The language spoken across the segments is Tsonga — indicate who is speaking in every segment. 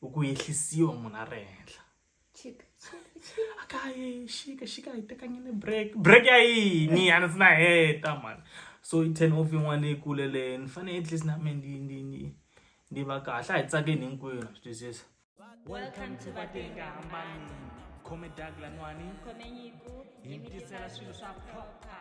Speaker 1: u ku yehlisiwa munhu a ri henhla akaye xika xika hi tekanyini break break ya yini a ni si na heta mani so i ten off yin'wana leyi kuleleyo ni fanele at least na mina ndi ndi ndi ndi va kahle a hi tsakeni hinkwenu swi twisisa welcome to
Speaker 2: vatenga hambani khome dag
Speaker 1: lanwani khome nyiku
Speaker 2: hi mi tisela
Speaker 1: swilo swa proper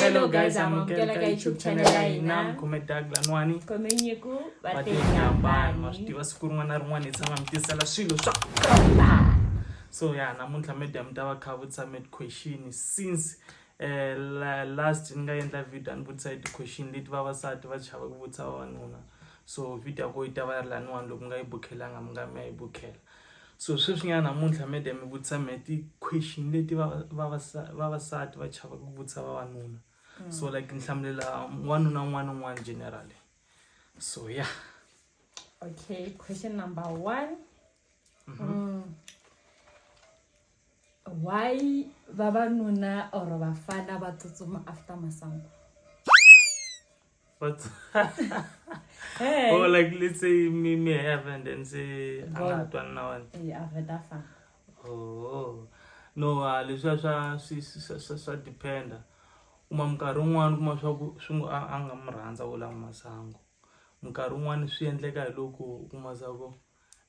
Speaker 2: hello guys amukela ka youtube channel ya hina mkhume dag lanwani
Speaker 1: khomenyiku
Speaker 2: vatenyambani wa swi tiva siku rin'wana na
Speaker 1: rin'wana hi tshama mi tisela swilo swa
Speaker 2: so ya
Speaker 1: namuntlha media mi ta va kha vutisa med question since eh, la, last ni nga endla video a ni vutisa hi ti-question leti vavasati va chava ku vutisa vavanuna so video ya ko yi ta va yi ri laniwani loko mi nga yi bukhelanga mi nga mi ya yi bukhela So sweswi nyana namuntlha mede mi vutisa me ti question leti va va va va va sati va chava ku vutisa va vanuna. Mm. So like nhlamulela wanuna n'wana n'wana generally. So yeah. Okay,
Speaker 2: question number 1. Mm -hmm. mm. Why vavanuna or vafana va tsutsuma after masangu?
Speaker 1: But hey.
Speaker 2: or like let's
Speaker 1: say me me have and then say another one now and yeah, I've heard that far. Oh no, uh, leswi swa swi swa swa dependa. Uma minkarhi un'wana kuma swa ku swi ngo a nga mu rhandza wo lava masangu. Minkarhi un'wana swi endleka hi loko kuma swa ku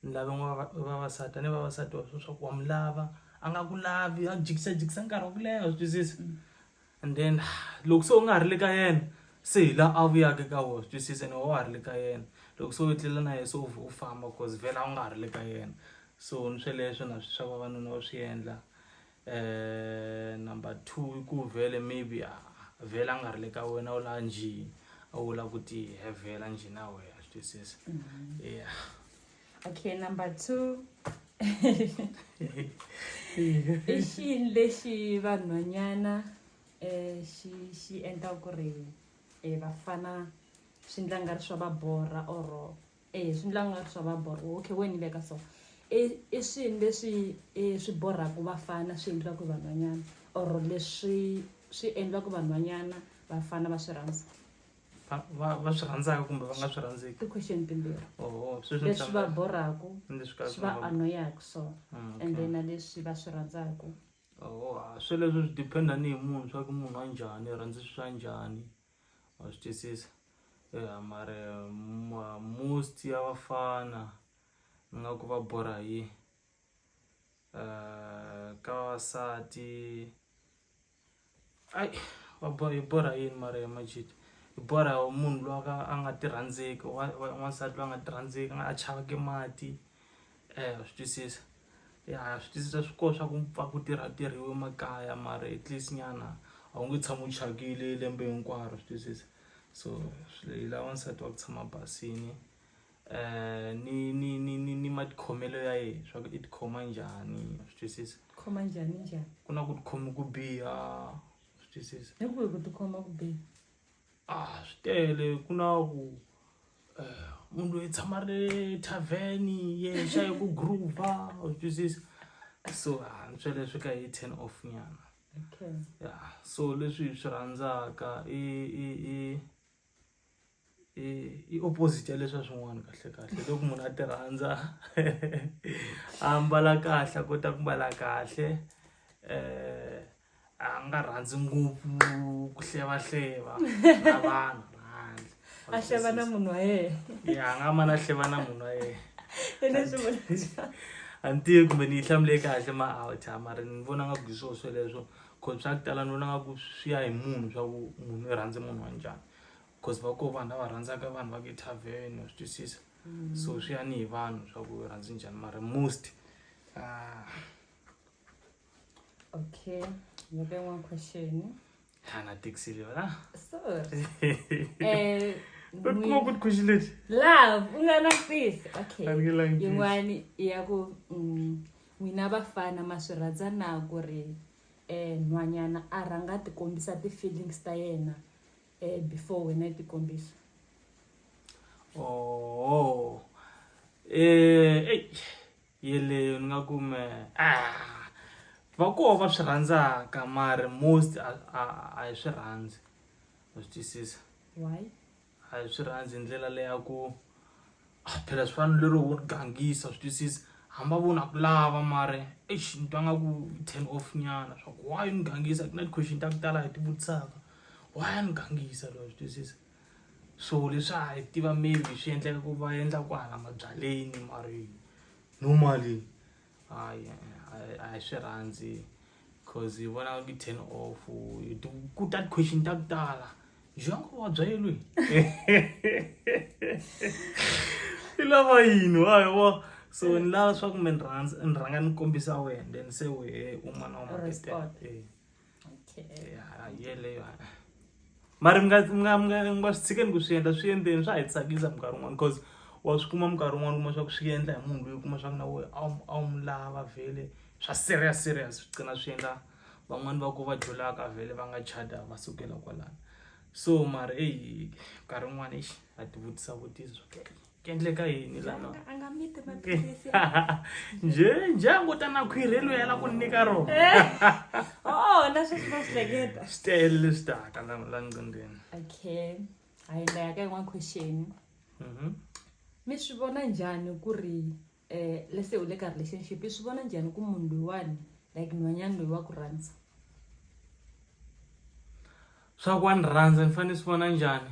Speaker 1: ni lava n'wana vavasati a ni vavasati wa sweswi swa ku wa mi lava a nga ku lavi a jikisajikisa nkarhi wa ku leha swi twisisa and then loko se u nga ha ri le ka yena se hi laha a vuyaka ka wona swi twisisa ene wa wa ha ri le ka yena loko se u etlela na yena se u u famba cause vhela u nga ha ri le ka yena so ni sweleswo na swa vavanuna va swi endla um number two i ku vhele maybe a vhele a nga ri le ka wena u laha njhini a wu lava ku tihevhela njhini a wehe a swi twisisa mm-hmm. ya okay
Speaker 2: number two i xini lexi vanhwanyana um xi xi endla ku ri um vafana swi ndla nga ri swa va borha or e swi ndla nga swa va borha okay we ni veka so i i swilo leswi swi borhaka vafana swi endliwaka vanhwanyana or leswi swi endliwaka vanhwanyana vafana va swi rhandza va
Speaker 1: va swi rhandzaka kumbe va nga swi rhandzeki i question timbirhi
Speaker 2: oh, leswi va
Speaker 1: borhaka
Speaker 2: swi va anoyaka so mm, and then leswi va swi rhandzaka oh, swi
Speaker 1: leswi swi dependa ni hi munhu swa ku munhu wa njhani rhandzi swa njhani wa swi twisisa ya mara ma- most ya vafana ni nga ku va borha hi yini Eh, ka vavasati ai va bo- hi borha hi yini mara ya majita hi borha hi munhu loyi a ka a nga ti rhandzeki wa- wa- wansati loyi a nga ti rhandzeki a nga a chavaki mati Eh, swi twisisa ya swi twisisa swi koho swa ku pfa ku tirha tirhiwe makaya mara at least nyana a wu nge tshami u thyakile lembe hinkwaro swi twisisa so swi hi lava nsati wa ku tshama basini um ni ni ni ni ni matikhomelo ya yena swa ku i tikhoma njhani swi twisisa khoma njhani njhani
Speaker 2: ku na ku tikhoma
Speaker 1: ku biha swi twisisa hi ku hi ku tikhoma ku
Speaker 2: biha a ah, swi
Speaker 1: tele ku na ku eh, munhu loyi tshama ri le tavheni yexa hi ku groova u twisisa so hantswa ah, leswi ka hi ten off nyana okay. ya
Speaker 2: so
Speaker 1: leswi hi swi rhandzaka i i i i opposite ya leswa swin'wana kahle kahle loko munhu a ti rhandza a mbala kahle a kota ku mbala kahle um a nga rhandzi ngopfu ku hlevahleva na vanhu rhandzi a hleva na
Speaker 2: munhu wa yena ya a nga ma na
Speaker 1: hleva na munhu wa yena
Speaker 2: a ni tivi kumbe
Speaker 1: ni yi hlamule kahle ma awucha mara ni vona nga ku hi swona sweleswo cause swa ku tala ni vona nga ku swi ya hi munhu swa ku munhu i rhandze munhu wa njhani cause va koho vanhu lava rhandzaka vanhu va ti-tarven wa swi twisisa mm. so swi ya ni hi vanhu swa ku rhandzi njhani mara most uh,
Speaker 2: Okay, you get one question. Hana
Speaker 1: Dixilio, huh? Sorry.
Speaker 2: Eh, But
Speaker 1: ni- more good question lady. love
Speaker 2: unganakufisa okay Ani nge line, please. yin'wani
Speaker 1: ya
Speaker 2: ku mm, n'wina vafana ma swi rhandza na ku ri um nhwanyana a rhanga a ti kombisa ti-feelings ta yena um before wena i ti kombisa Oh.
Speaker 1: Eh, hey. yeleyo ni nga ku me ah, va koho va swi rhandzaka mari most a hi swi rhandzi wa swi twisisa
Speaker 2: a hi swi
Speaker 1: rhandzi hi ndlela leya ku ah, phela swi fanele lero wo gangisa swi twisisa hamba vona ku lava mari eish ni twa nga ku ten off nyana swa ku why ni gangisa ku na ti-question ta ku tala hi ti vutisaka why ni gangisa loyo swi twisisa so leswi a hi tiva maybe swi endleka ku va endla ku hala mabyaleni mari normally hayi a hi swi rhandzi cause hi vona ngi ten off ku that question ta ku tala njengo wabya yelweni i lava yini wa hi wa so ni lava swa ku mi ni rhandza ni rhanga ni kombisa wena then se wehe un'wana wa maketer mari munga swi tshikeni ku swi endla swi endleni swa hi tsakisa minkarhi un'wana because wa swi kuma minkarhi un'wana kuma swa ku swi endla hi munhu loyi kuma swa ku na wo a wu mu lava vhele swa serious serious swi qina swi endla van'wani va ku va dlulaka vhele va nga chada va sukela kwalano so mari eyi nkarhi un'wana exi a ti vutisa vutisa swa ku ku endleka yini lano
Speaker 2: nje
Speaker 1: nje a ngo ta na khwirhi loyi a la ku nyika rona ona
Speaker 2: eh. sweswi va swi hleketa swi tele leswi taka
Speaker 1: la la nqindeni okay
Speaker 2: a hi ndla ya ka yin'wana question mhm. mi swi vona njhani ku ri um eh, lese u le ka relationship i swi vona njhani ku munhu loyiwani like nhwanyana loyi wa ku rhandza
Speaker 1: swa ku wa ni rhandza ni fanele swi vona njhani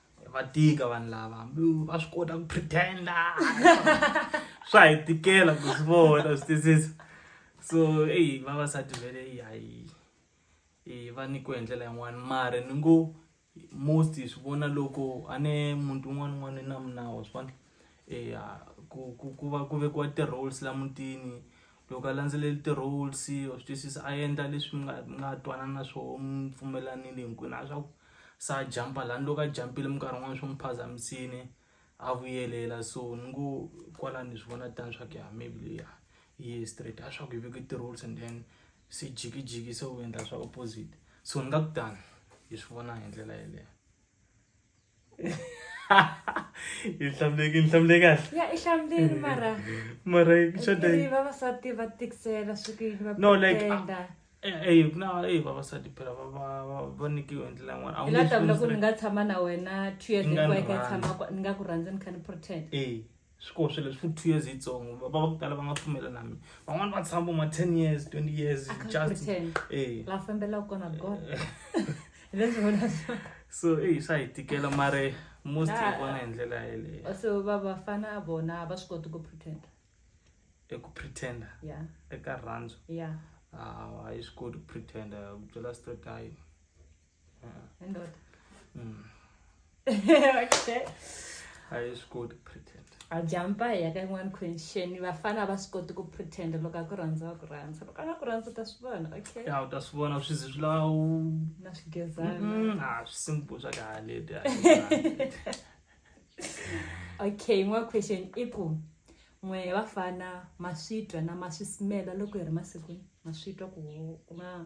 Speaker 1: va tika vanhu lava hambi va swi kota ku pretenda swa hi tikela ku swi vona swi twisisa so eyi vavasati vele yi hayi i va nyikiwe hi ndlela yin'wana mara ni ngo most hi swi vona loko a ne muti wun'wana un'wana na minawu wa swi vona eya ku ku ku va ku vekiwa ti-rules la mutini loko a landzeleli ti-rules wa swi twisisa a endla leswi mi nga mi nga twanana na swoho mi pfumelanile hinkwenu hayi swa ku se a jampa lani loko a jampile minkarhi yin'wani swi n'wi phazamisile a vuyelela so ni ngo kwalano ni swi vona tani swa ku ya maybe leya yi ye straight hayi swa ku hi veke ti-rules and then se jikijiki se u endla swa opposite so ni nga ku tano hi swi vona hi ndlela yeleyo. no
Speaker 2: like eyi ku na
Speaker 1: eyi vavasati phela va nikiwe hi ndlela yin'wana hi la tavula ku ni nga
Speaker 2: tshama na wena two years hinkwayo ka tshama ni nga ku rhandzi ni kha ni pretend swi koho swilo
Speaker 1: leswi two years yitsongo vaba va ku tala va nga pfumela na mina van'wana va tshama ma ten years twenty years just eh. la
Speaker 2: fambelaka kona god so eyi
Speaker 1: swa hi tikela mare most hi vona hi ndlela yeleyo so va vafana
Speaker 2: vona va swi koti ku pretenda eku
Speaker 1: pretenda yeah. eka rhandzu yeah. ah, a yi swi koti ku pretenda ku byela straight ayi
Speaker 2: hayi
Speaker 1: swi koti pretend a jampa hi ya
Speaker 2: ka yin'wana question vafana a va swi koti ku pretend loko a ku rhandza wa ku rhandza loko a nga ku rhandza u ta swi vona okay ya u ta swi vona swi zi
Speaker 1: swi lawu na
Speaker 2: swigezana a swi simple swa
Speaker 1: kahaleti
Speaker 2: okay yin'wana question i ku n'we vafana ma swi twa na ma swi smela loko hi ri masikwini ma swi twa ku ku nga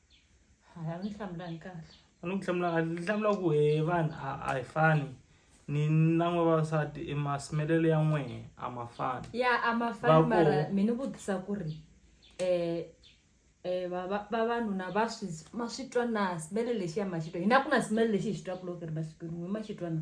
Speaker 1: a
Speaker 2: ni hlamulani kahle a ni ku hlamula kahle
Speaker 1: ni hlamula ku he vanhu a a hi fani ni na n'we vavasati i masimelelo ya n'we a ma fani ya a ma fani Va
Speaker 2: mara koho. mi ni vutisa ku ri eh eh va- va- vavanuna va swi ma swi twa na simele lexi ya ma xi twa hina ku na simele lexi hi xi twaku loko hi ri masikwini n'we ma xi twa na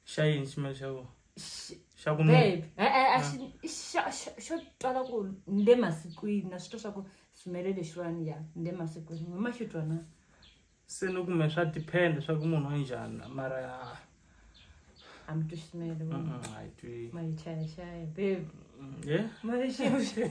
Speaker 2: xa yini ximela
Speaker 1: xa vona Xi- xa ku nuna babe e-e a xi xa- xa-
Speaker 2: xo twala ku ni le masikwini na swi twa swa ku swimele lexiwani ya ni le masikwini hi ma xi twa na se
Speaker 1: ni ku me swa depend swa ku munhu wa njhani mara ah,
Speaker 2: a mi twi swimele mm, wena mm, a yi twi
Speaker 1: ma yi chayachaya
Speaker 2: babe Mm, yeah. ma
Speaker 1: yi xixi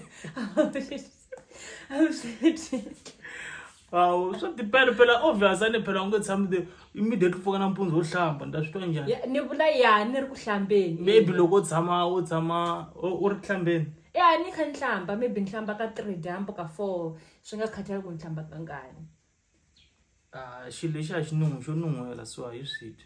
Speaker 1: awu swa tipele phela obvious a ni phela u nge tshami the immediate pfuka nampundzu wo hlamba ni ta swi twa njhani Ya- ni vula ya ni
Speaker 2: ri ku hlambeni maybe loko u tshama
Speaker 1: u tshama u u ri hlambeni ya ni kha ni
Speaker 2: hlamba maybe ni hlamba ka three dyambu ka four swi nga khathali ku ni hlamba kangani
Speaker 1: Ah, xilo lexi a xi nun'wi xo nun'hwela so a hi swi dyi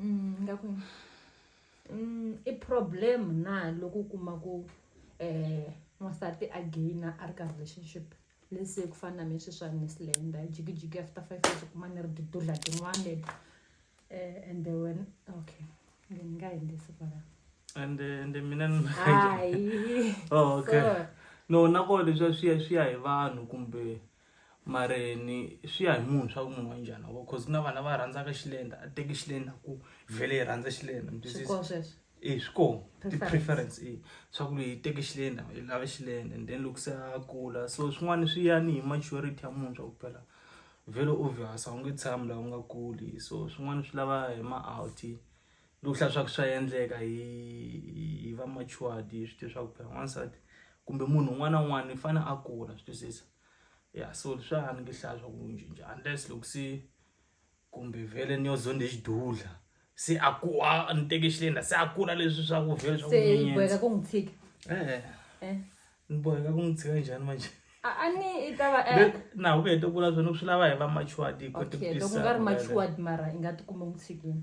Speaker 1: ingaku
Speaker 2: i problem na loko u kuma ku um n'wansati a gain-a a ri ka relationship let's say ku fana na me sweswi a ni se land-a jikijiki after five years u kuma ni ri tidudla tin'wani um ende wena okay ni nga endlisi kwala and ende
Speaker 1: mina ni hayi
Speaker 2: oh, okay
Speaker 1: so, no nakona leswiya swi ya swi ya hi vanhu kumbe mara ni swi ya hi munhu swa ku munhu wa njhani wa cause ku na vana va rhandzaka xilenda a teki xilenda ku vhele yi rhandza xilenda
Speaker 2: e swi kona
Speaker 1: ti-preference e swa ku leyi teke xilenda yi lava xilenda and then loko se a kula so swin'wana swi ya ni hi maturity ya munhu swa ku phela vhele u vhasa u nge tshami laha u nga kuli so swin'wana swi lava hi ma-out ni ku hlaya swa ku swa endleka hi hi va matured hi swi tiva swa ku phela n'wansati kumbe munhu un'wana na un'wana i fane a kula swi twisisa ya so swa ni nge hlaya swa ku cinca unless loko se kumbe vhele ni yo zonde xidudla se a ku a ni teke xilenda se a kula leswi swa ku vhele swa ku nyenyedza ku n'wi tshika
Speaker 2: e-e eh.
Speaker 1: ni boheka ku n'wi tshika njhani manje a ni i
Speaker 2: ta va eh. na ku heta kula
Speaker 1: swona ku swi lava hi va matured hi kote ku tisa loko nga ri
Speaker 2: matured mara i nga ti kume n'wi tshikini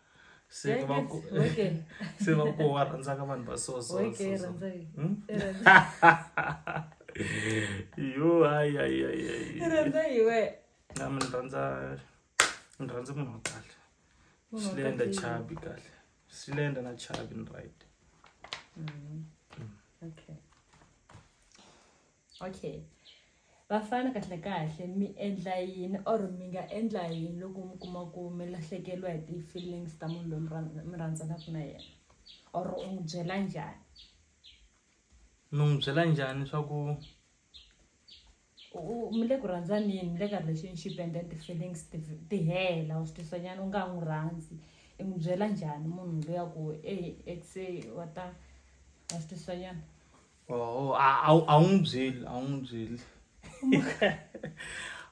Speaker 1: se Thank va you. ku Okay. se va ku wa rhandza ka vanhu va so so Okay, so, so. rhandza yi. Hmm? I rhandza- yo hayi hayi hayi i hayi rhandza
Speaker 2: yi we. na mi ni rhandza
Speaker 1: ni rhandza munhu wa kahle Munhu wa slenda kahle. chabi kahle slenda na chabi ni right Mm. Okay.
Speaker 2: okay vafana kahle kahle mi endla yini or mi nga endla yini loko mi kuma ku mi lahlekeriwa hi ti-feelings ta munhu loyi mi rhandzanaka na yena or u n'wi byela njhani
Speaker 1: ni n'wi byela njhani swa ku
Speaker 2: mi le ku rhandzaneni mi le ka relationship and then ti-feelings ti hela u swi twisanyana u nga n'wi rhandzi i n'wi byela njhani munhu loyi a ku e exe wa ta wa swi twisanyana Oh, a wu n'wi
Speaker 1: byeli a wu n'wi byeli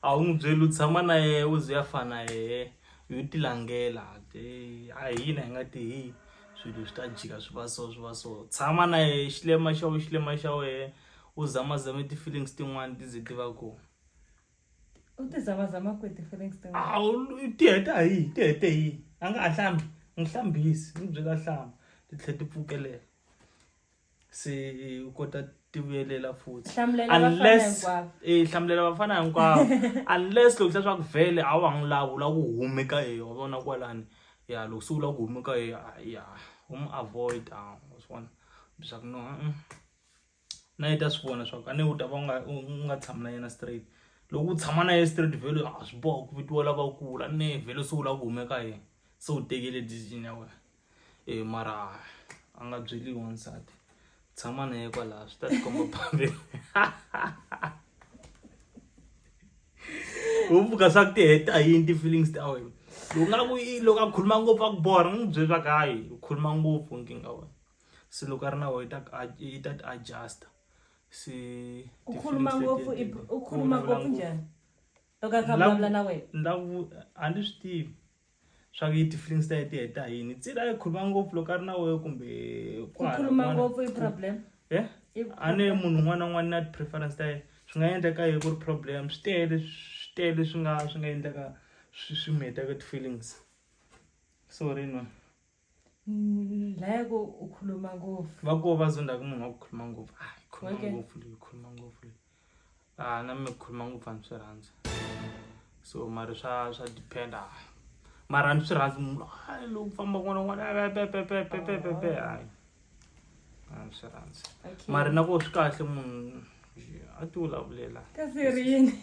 Speaker 1: a wu n'wi byeli u tshama na yehe u ze a fana yehe yo ti langela a hina hi nga ti hi swilo swi ta jika swi va so swi va so tshama na yehe xilema xa wena xilema xa wena u zamazame ti-feelings tin'wani ti ze ti va kona u
Speaker 2: ti zamazama kwihi ti-feelings tin'wana a wu ti
Speaker 1: heta hi yini ti hete hi yini a nga ha hlambi n'wi hlambisi n'wi byela hlamba ti tlhela ti pfukelela se u kota tivuyelela futhi unless eh hlamulela vafana hinkwavo unless loko swa ku vhele a wa n'wi lavi u lava ku humeka hi yona vona kwalani ya loko se u lava ku humeka hi ya u mu avoid a u swi vona leswaku no na yi ta swi vona swa ku a ne u ta va u nga u nga tshami na yena straight loko u tshama na yena straight vhele a swi boha ku vitiwa lavakulu a ne vhele se u lava ku humeka hi yena se u tekele decision ya wena e mara a nga byeliwi wansati tshama na ye kwalaha swi ta tikomba phambeni u vuka swa ku ti heta yini ti-feelings ta wena loko nga ku loko a khuluma ngopfu a ku borha n'wi byeli swa ku hayi u khuluma ngopfu nkingha wena se loko a ri na wena yi ta ti adjusta se u khuluma
Speaker 2: ngopfu u khuluma ngopfu njhani loko a kha vulavula na wena ni la ku a ni swi
Speaker 1: tivi swa ku yi ti-feelings ta ye ti heta hi yini tsila yi khuluma ngopfu loko a ri na wehe kumbe ku khuluma
Speaker 2: ngopfu i problem e a
Speaker 1: ne munhu un'wana na un'wana na ti-preference ta ye swi nga endleka hi ku ri problem swi tele swi tele swi nga swi nga endleka swi swi mi hetaka ti-feelings sorry no Mm, la
Speaker 2: yako ukhuluma ngopfu va ko va zonda ku munhu
Speaker 1: wa ku khuluma ngopfu a yi khuluma Okay. ngopfu leyi khuluma
Speaker 2: ngopfu
Speaker 1: leyi a na mi khuluma ngopfu a ni swi rhandza so mara swa swa depend a mara a ni swi rhandzi munhu a loko ku famba kun'wana kun'wana a pepepepepepepe hayi a ni swi rhandzi okay mara na ko swi
Speaker 2: kahle
Speaker 1: munhu a ti vulavulela kasi ri
Speaker 2: yini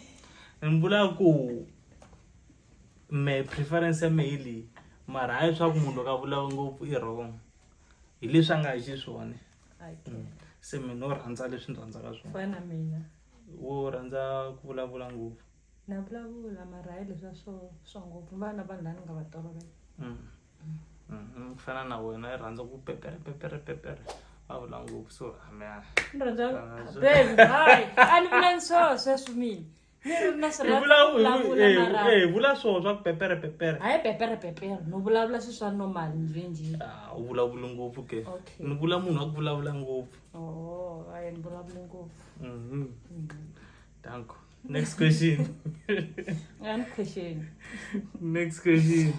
Speaker 2: ni vula
Speaker 1: ku me preference ya me hi leyi mara hayi swa ku munhu loko a vulaka ngopfu i wrong hi leswi a nga hi xiswona mm.
Speaker 2: se mina wo
Speaker 1: rhandza leswi ni rhandzaka swona
Speaker 2: wo rhandza
Speaker 1: ku vulavula ngopfu na vulavula
Speaker 2: mara hayi leswa swo swa ngopfu vana vanhu laa ni nga va tolovela mm.
Speaker 1: mm-hmm. ku fana na wena i rhandza ku pepere pepere pepere a vula ngopfu so hamea ni rhandza
Speaker 2: ah, baby hayi a ni vula ni swo sweswi mina mi ri na swi hi rhandza vula- ku hi vu- vulavula eh, na ra- eh, hi
Speaker 1: vula swona swa ku pepere pepere hayi pepere pepere
Speaker 2: no vulavula swi swa normal njhenjhe Ah, u vulavula
Speaker 1: ngopfu ke Okay. ni vula munhu wa ku
Speaker 2: vulavula
Speaker 1: ngopfu o ayi ni
Speaker 2: vulavule ngopfu Mhm.
Speaker 1: danko next question nga
Speaker 2: ni question next
Speaker 1: question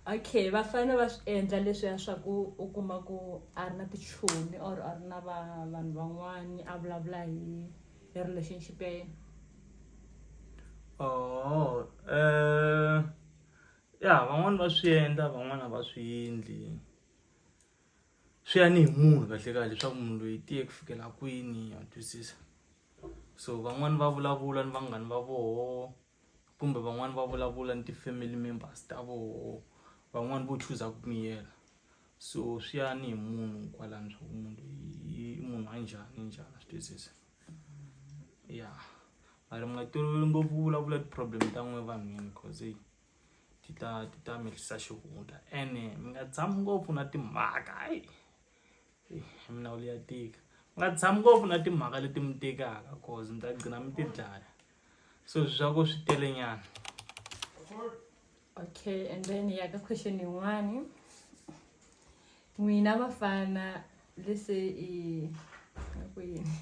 Speaker 1: okay va
Speaker 2: fane va swi endla leswiya swa ku u kuma ku a ri na tichomi or a ri na va- vanhu van'wani a vulavula hi E relationship ya yena oh
Speaker 1: eh ya van'wani va swi endla van'wana va swi endli swi ya ni hi munhu kahle kahle leswaku munhu loyi tiye ku fikela kwini ya twisisa so van'wani va vulavula ni vanghani va voho kumbe van'wani va vulavula ni ti-family members ta voho van'wani vo chuza ku miyela so swi ya ni hi munhu kwalani swa ku munhu loyi i munhu wa njhani njhani swi twisisa ya mara mi nga toloveli ngopfu ku vulavula ti-problem ta n'we vanhwini cause eyi ti ta ti ta mehlisa xihundla ene mi nga tshami ngopfu na timhaka hayi minawulu ya tika u nga tshami ngopfu na timhaka leti mi tikaka cause mi ta gcina mi ti dlaya so swi swa ku swi tele nyana
Speaker 2: okay and then ya ka question yin'wani n'wina vafana lese i ku yini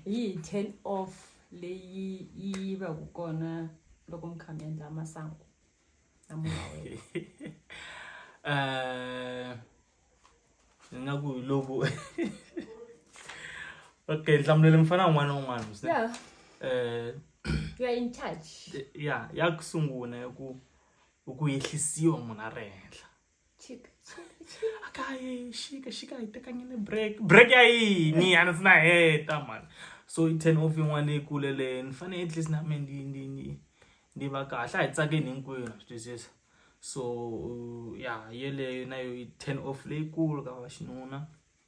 Speaker 2: yi turn off leyi yi va ku kona loko mi kha mi endla masangu eh,
Speaker 1: ni nga ku hi loko okay nhlamulo leyi mi fana un'wana na un'wana
Speaker 2: um eh, ya ya ku
Speaker 1: sungula ya ku ku yehlisiwa munhu a ri henhla
Speaker 2: akaye
Speaker 1: shika shika ayitekanyene break break ya yini ana sina heta man so i ten off yin'wana leyi kule leyo ni fanele at least na me ndi ndi ndi ndi va kahle a hi tsakeni hinkwenu swi twisisa so ya yeleyo na yo i ten off leyikulu ka va xinuna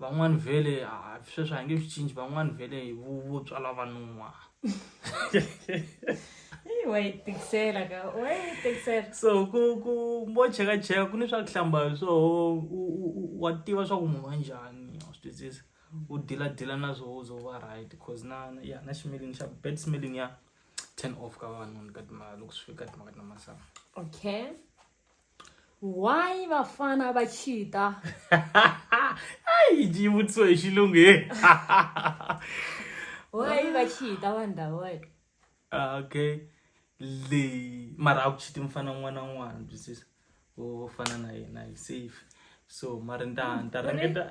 Speaker 1: van'wani vhele ah, sweswi a hi nge swi cinci van'wani vhele hi vutswa lava nuwa so ku ku mo chekacheka ku ni swa ku hlamba hi swoho wa tiva swa ku munhu wa njhani wa swi twisisa u diladila na swoho u zo va right cause na ya na ximilini xa bad smelling ya ten off ka vavanuna ka timhaka loko swi fika ka timhaka ta masangu okay
Speaker 2: why vafana va cheata
Speaker 1: ayi yi vutiso hi xilungu
Speaker 2: he why va cheata vanhu lavawa ah, okay
Speaker 1: leyi mara a ku chiti mufana un'wana na un'wana twisisa wo fana na yena yi safe so mari nta nta ringeta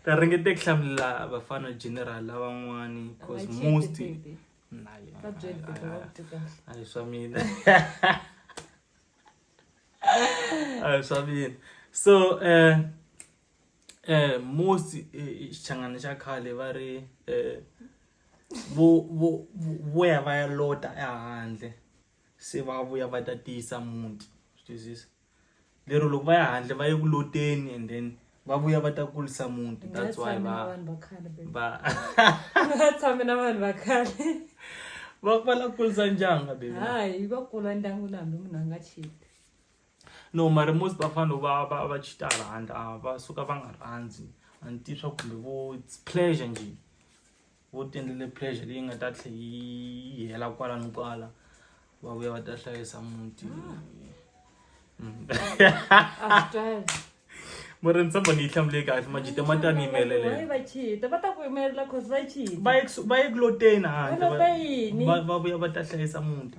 Speaker 1: ta ringete ku hlamulela vafana general lavan'wani because most a hi swa mina a hi swa mina so um um mosi xichangani xa khale va ri um vo vo vo ya va ya lota ehandle se va vuya va ta tiyisa muti swi twisisa. lero loko va ya handle va ye ku loteni and then va vuya va ta kulisa muti that's why
Speaker 2: va va tshame na vanhu va khale va va
Speaker 1: la kulisa ndyangu baby hayi va kula
Speaker 2: ndyangu na hambi munhu a nga chiti no
Speaker 1: mara most va fanele va va va chita hala handle a va suka va nga rhandzi a ni tivi swa kumbe vo it's pleasure njhe vo tendlele pressure leyi nga ta tlhe yi hela kwala ni kwala va vuya va ta hlayisa muti
Speaker 2: murimi
Speaker 1: samba ni yi hlamule kahle majite ma ta ni yimelela
Speaker 2: va ye kuloteni
Speaker 1: handle
Speaker 2: va vuya va ta hlayisa
Speaker 1: muti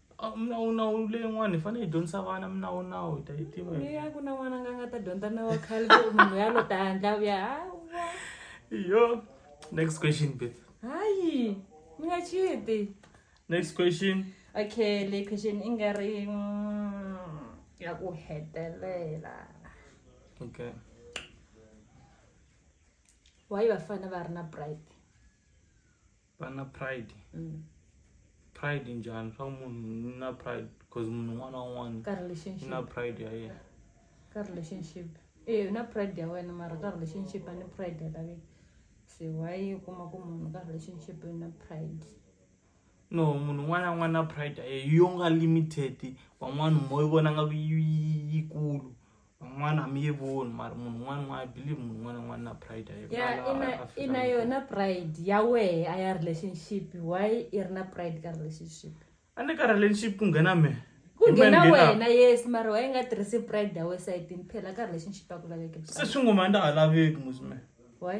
Speaker 2: Ah, minawunawu
Speaker 1: leyin'wana hi fanele hi dyondzisa vana minawunawu hi ta yi tiva hi- ya ku na n'wana nga nga
Speaker 2: ta dyondza na wa khale ku munhu ya lo ta handla vuya hawa
Speaker 1: yo next question bet hayi
Speaker 2: mi nga chiti next question
Speaker 1: okay le
Speaker 2: question i nga ri mm, ya ku hetelela
Speaker 1: okay
Speaker 2: why vafana va ri na pride
Speaker 1: vana pride mm. pride njhani swa munhu na pride because munhu un'wana na un'wana ka relationship na
Speaker 2: pride ya
Speaker 1: yena ka relationship
Speaker 2: eh na pride ya wena mara ka relationship a ni pride ya laveki se why u kuma ku munhu ka relationship na pride no
Speaker 1: munhu un'wana na un'wana na pride ya yena yo nga limited van'wana mo yi vona nga ku yikulu van'wana mi yi voni mari munhu un'wana un'wana i believe munhu un'wana un'wana na pride ya yena ya Laha ina Afrika ina Dzonga. yona
Speaker 2: pride ya wehe a ya relationship why i ri na pride ka relationship a ni ka relationship
Speaker 1: ku nghena me ku Hi mehe ni nghena wena
Speaker 2: yes mara why i nga tirhisi pride ya wena sayitini phela ka relationship a ku laveki se pride swi ngoma a nda ha
Speaker 1: laveki musi me why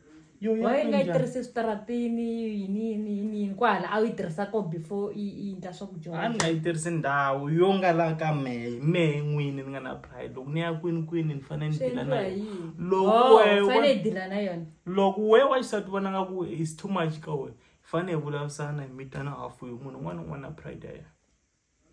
Speaker 2: Yo, ya why yi
Speaker 1: nga yi endla. tirhisi
Speaker 2: eswitaratini yini yini yini yini kwahala a wu yi tirhisa ko before yi yi endla a ni swakudya nga yi tirhisi
Speaker 1: ndhawu yo nga la ka mehe mehe n'wini ni nga na pride loko ni ya kwini kwini ni fanele ni swi dila na endliwa hi yona yini Loko Oh, we- fane
Speaker 2: we- yi dila na yona loko we wa xisati
Speaker 1: vona nga ku is too much ka wena hi fanele hi vulavurisana hi mitana hafu hi munhu un'wana na un'wana na pride ya yena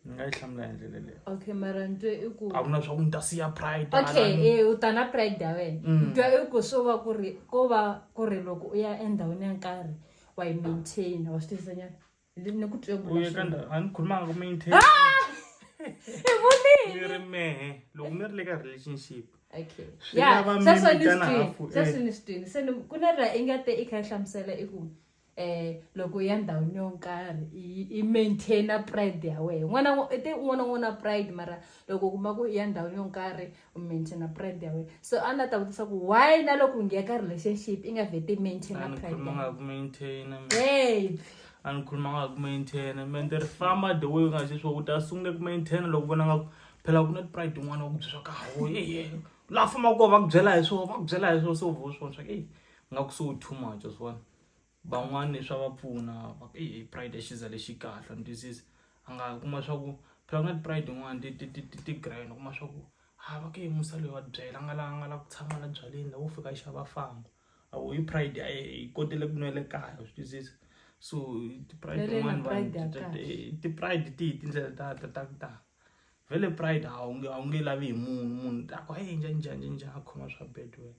Speaker 1: ni nga yi hlamula hi ndlela leyo okay mara ni twe i
Speaker 2: ku a ku na swa ku ni ta siya
Speaker 1: pride okay halani. eh u ta na
Speaker 2: pride ya wena Mm. ni twa i ku swo va ku ri ko va ku ri loko u ya endhawini ya nkarhi wa yi maintain wa swi tivisa nyana Ni- ni ku twe ku u ye ka ndhawu a ni khulumanga
Speaker 1: ku maintain i
Speaker 2: vonile ni ri mehe
Speaker 1: loko mi ri le ka relationship okay Swi ya
Speaker 2: lava mi sweswo
Speaker 1: ni vitana swi twini hafu, eh. sweswo ni swi twini se ni
Speaker 2: ku na ra i nga te i kha i hlamusela i ku um loko ya ndhawini yo nkarhi i maintaina pride ya wehe n'wana te un'wana n'wana na pride mara loko u kuma ku i ya ndhawini yo nkarhi u maintaina pride ya wehe so a ni ta vutisa ku why na loko u ngiya ka relationship i nga vhete i maintaina
Speaker 1: pride
Speaker 2: a ni khuluma
Speaker 1: nga ku maintaina mente ri famba the way u nga se swo u ta sungule ku maintaina loko vona nga ku phela ku na tipride tin'wana wa ku byeriwa ka hawo eye laha fambaka kona va ku byela hi swona va ku byela hi swona se u vo swona swa ku eyi nga ku so too much wa swi vona van'wani swa va pfuna va ku eyi pride i xiza lexi kahle wa ni twisisa a nga kuma swa ku phela ku na ti-pride tin'wani ti ti ti ti ti grand u kuma swa ku ha va ka yini musa loyi wa tibyela a nga la a nga la ku tshama la byaleni la wo fika a xava a famba a wu yi pride a yi kotele ku nwela kaya wa swi twisisa so ti-pride tin'wani vanhu ti- ti- ti- ti-pride ti hi tindlela ta ta ta ku tala vhele pride a wu nge a wu nge lavi hi munhu munhu ta ku hayi njhani njhani njhani njhani a khoma swa bad wena.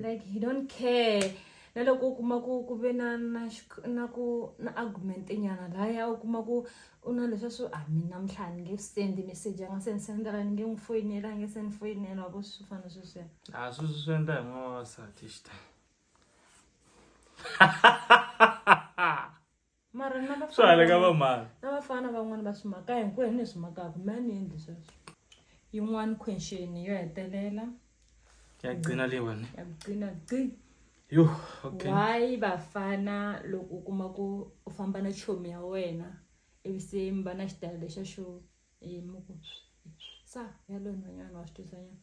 Speaker 2: like he don't care na loko u kuma ku ku ve na na na ku na argument nyana laya u kuma ku u na leswa swo a ah, mi namuntlha ni nge sendi message a nga se ni sendela ni nge n'wi foyinela a nge se ni foyinela wa vo swi fana sweswiya a ah, sweswi swi endla hi
Speaker 1: n'wana wasati xitani
Speaker 2: mara swi haleka va mhani
Speaker 1: na vafana van'wana va
Speaker 2: swimaka hinkwenu ni swimakaka mi a ni endli sweswo yin'wana question yo hetelela ya
Speaker 1: gcina leyiwani ya gcina gci
Speaker 2: yo
Speaker 1: okay why vafana
Speaker 2: loko u kuma ku u famba na chomi ya wena ivi se mi va na xitayele xa xo yimi ku sa ya loyi nhwanyana wa swi twisanyana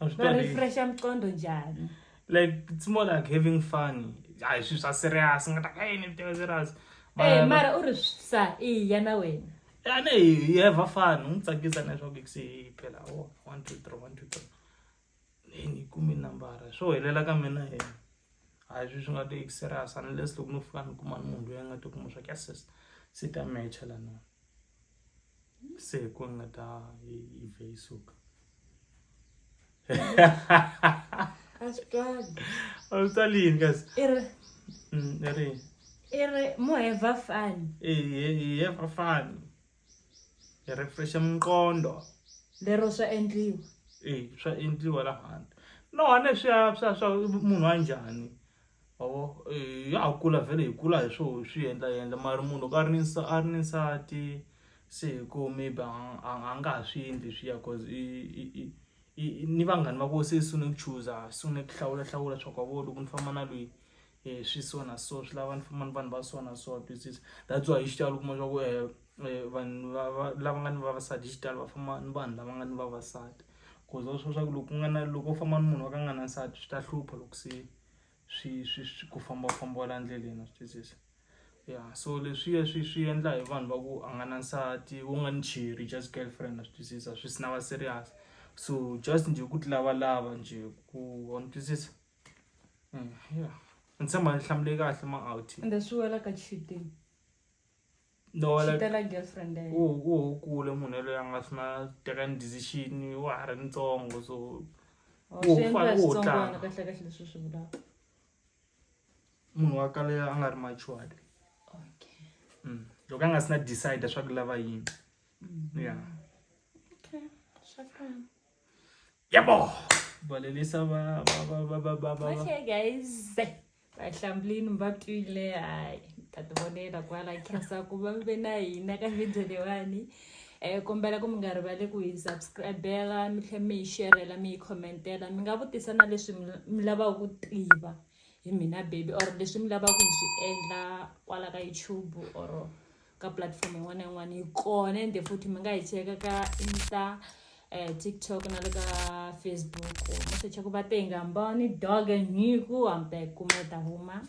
Speaker 2: va
Speaker 1: refresha miqondo njhani
Speaker 2: like it's
Speaker 1: more like having fun hayi swilo swa serious nga ta hey ni viteka serious eh mara u
Speaker 2: ri sa i ya na wena a ne hi
Speaker 1: have fun u n'wi tsakisa na leswaku se phela o oh, one two three one two three ni ni kumi nambara swo helela ka mina he hayi swi swi nga ti serious unless loko no fika ni kuma ni munhu loyi a nga ti kuma swa ku ya sis se ta matcha la nona se hi ku nga ta yi vhe yi suka
Speaker 2: a swi twali a swi twali
Speaker 1: yini kasi i ri mm, i ri
Speaker 2: i ri mo heva fani hi heva
Speaker 1: fani hi refresha minqondo lero swa
Speaker 2: endliwa e swa
Speaker 1: endliwa laha handle no hane swa swa swa munhu wa njhani Mavo eh, ya ha kula vhele hi kula hi swo swi endla endla mara munhu loko a ri ni a ri ni nsati se hi ku maybe a nga ha swi endli swiya cause i i ni vanghani va ko se sungule ku chuza sungule ku hlawula hlawula swa ku a vo loko ni famba na lweyi um swi so na so swi lava ni famba ni vanhu va so na so twisisa that's why hi xitalo u kuma swa ku um vanhu va lava nga ni vavasati hi xitalo va famba ni vanhu lava nga ni vavasati cause va swi tiva swa ku loko ku nga na loko u famba ni munhu wa ka a nga na nsati swi ta hlupha loko se swi swi swi ku fambafamba la ndleleni wa swi twisisa ya so leswiya swi swi endla hi vanhu va ku a nga na nsati wo nga ni cheri just girlfriend wa swi twisisa swi swi na va serious so just njhe ku ti lavalava njhe ku wa ni twisisa ya ni tshemba ni hlamule kahle ma out ende swi wela ka
Speaker 2: cheating.
Speaker 1: xitela girlfriend
Speaker 2: ya yena wo kule munhu
Speaker 1: yaloye a nga swi na teka ni decision wa ha ri ntsongo so munhu wa kale a nga ri matured mm.
Speaker 2: loko a nga si
Speaker 1: na decide swa ku lava yini mm. ya
Speaker 2: yabo
Speaker 1: balelisa okay
Speaker 2: guys vahlambulini mi va twile hayi ta ti vonela kwala khensa ku va mi ve na hina ka video leyiwani um kombela ku mi nga rivali ku hi subscribela mi tlhe mi yi sherela mi yi commentela mi nga vutisa na leswi mi lavaka ku tiva hi mina baby or leswi mi lavaka ku hi swi endla kwala ka youtube or ka platform yin'wana na yin'wana yi kona ende futhi mi nga yi cheka ka insta eh, tiktok na le ka facebook mo secha ku va tenga mboni dog nyiku hambe kuma ta huma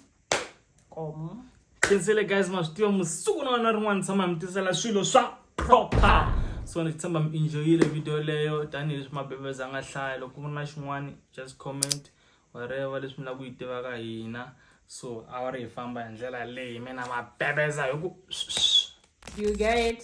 Speaker 2: komo khinsele
Speaker 1: guys ma swi tiva musiku na wena rin'wana tshama mi tisela swilo swa proper so ni tshemba mi enjoyile video leyo tanihileswi mabebeza a nga hlaya loko ku ri na xin'wana just comment whatever leswi mi lava ku yi tiva ka hina so a va ri hi famba hi ndlela
Speaker 2: leyi
Speaker 1: mina ma bebeza hi ku you get